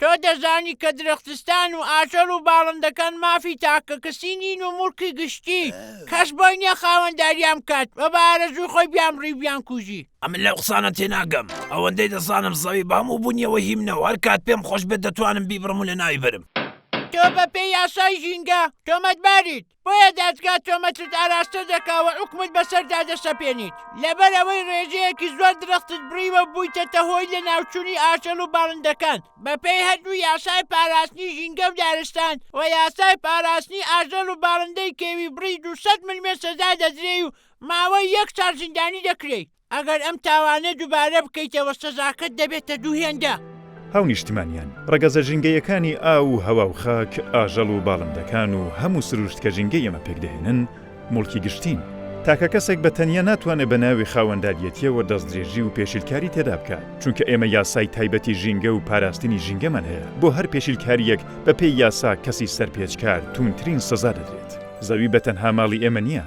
تۆ دەزانی کە درەختستان و ئاژەڵ و باڵندەکان مافی تاکەکەسی نین و موڵکی گشتی، کەس بۆی نییە خاوەنداریان بکات و بە ئارەزووی خۆی بیانبڕی و بیانکوژی. ئەمن لەو قسانە تێناگەم، ئەوەندەی دەزانم زەوی بە هەموو بوونیەوە هی منە و هەر کات پێم خۆش بێت دەتوانم بیبڕم و لەناوی بەرم. تۆ بەپێی یاسای ژینگە تۆمەتباریت. بۆیە دادگا تۆمەتت ئاراستە دەکا و حوکمت بەسەردا دەسەپێنیت، لەبەرئەوەی ڕێژەیەکی زۆر درەختت بڕیوە و بوویتەتە هۆی لەناوچوونی ئاژەڵ و باڵندەکان بەپێی هەردوو یاسای پاراستنی ژینگە و دارستان و یاسای پاراستنی ئاژەڵ و باڵندەی کێوی بڕی دوو سەد ملمێر سزا دەدرێی و ماوەی یەک ساڵ زیندانی دەکرێی. ئەگەر ئەم تاوانە دوبارە بکەیتەوە سەزاکەت دەبێتە دوو هێندە. هاونیشتمانیان، ڕەگەزە ژینگەیەکانی ئاو و هەوا و خاک، ئاژەڵ و باڵندەکان و هەموو سروشت کە ژینگەی ئێمە پێکدەهێنن، موڵکی گشتین. تاکە کەسێک بە تەنیا ناتوانێت بە ناوی خاوەنداریەتیەوە دەستدرێژی و پێشیلکاری تێدا بکات، چونکە ئێمە یاسای تایبەتی ژینگە و پاراستنی ژینگەمان هەیە، بۆ هەر پێشیلکاریەک بەپێی یاسا کەسی سەرپێچکار تووندترین سەزا دەدرێت. زەوی بە تەنها ماڵی ئێمە نیە.